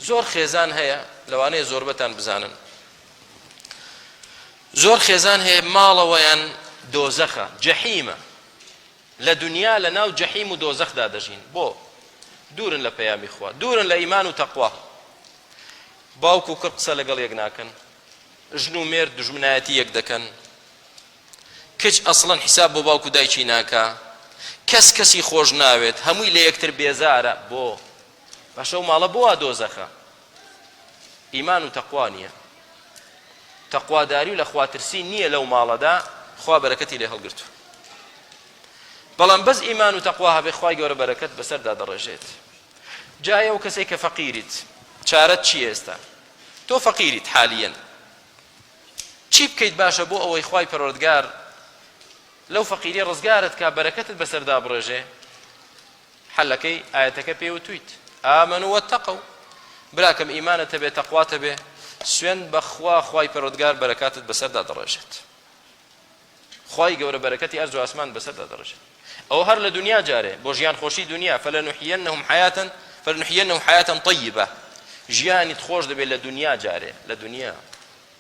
زۆر خێزان هەیە، لەوانەیە زۆربەتان بزانن، زۆر خێزان هەیە ماڵەوەیان دۆزەخە، جەحیمە، لە دنیا لە ناو جەحیم و دۆزەخدا دەژین، بۆ؟ دوورن لە پەیامی خوا، دوورن لە ئیمان و تەقوا، باوک و کوڕ قسە لەگەڵ یەک ناکەن، ژن و مێرد دوژمنایەتی یەک دەکەن، کچ ئەسڵەن حیساب بۆ باوک و دایکی ناکا، کەس کەسی خۆش ناوێت، هەمووی لە یەکتر بێزارە، بۆ؟ باشە ئەو ماڵە بۆ وا دۆزەخە ئیمان و تەقوا نییە تەقواداری و لە خواترسی نییە لەو ماڵەدا خوا بەرەکەتی لێ هەڵگرتو بەڵام بەس ئیمان و تەقوا هەبێ خوای گەورە بەرەکەت بەسەردا دەڕێژێت جایە و کەسێک کە فەقیریت چارەت چی ئێستا تۆ فەقیریت حالیەن چی بکەیت باشە بۆ ئەوەی خوای پەرۆردگار لەو فەقیری ڕزگارت کا بەرەکەتت بەسەردا بڕێژێ حەلەکەی ئایەتەکە پێی وتویت ئامنو واتقو براکەم ئیمانت هەبێ تەقوات هەبێ سوێند بەخوا خوای پەروەردگار بەرەکاتت بەسەردا دەڕێژێت خوای گەورە بەرەکەتی ئەرز و ئاسمان بەسەردا دەڕێژێت ئەو هەر لە دنیا جارێ بۆ ژیان خۆشی دنیا فلنحيينهم حياة فلنحيينهم حياة طيبة ژیانیت خۆش دەبێت لە دنیا جارێ لە دنیا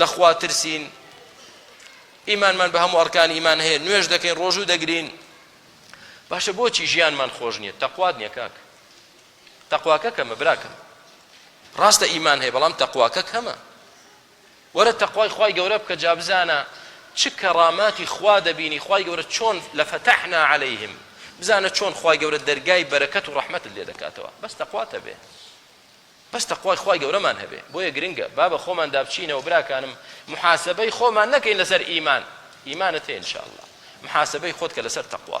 لە خوا ترسین، ئیمانمان بە هەموو ئەڕکانی ئیمان هەیە، نوێژ دەکەین، ڕۆژوو دەگرین، باشە بۆچی ژیانمان خۆش نییە؟ تەقوات نییە کاک، تەقواکە کەمە براکەم، ڕاستە ئیمان هەیە بەڵام تەقواکە کەمە، وەرە تەقوای خوای گەورە بکە جا بزانە چ کەڕاماتی خوا دەبینی، خوای گەورە چۆن لەفەتەحنا عەلەیهم، بزانە چۆن خوای گەورە دەرگای بەرەکەت و ڕەحمەتت لێ دەکاتەوە، بەس تەقوات هەبێ. بەس تەقوای خوای گەورەمان هەبێ بۆیە گرنگە با بە خۆماندا بچینەوە براکانم محاسەبەی خۆمان نەکەین لەسەر ئیمان ئیمانت هەیە ان شاء اللە محاسەبەی خۆت کە لەسەر تەقوا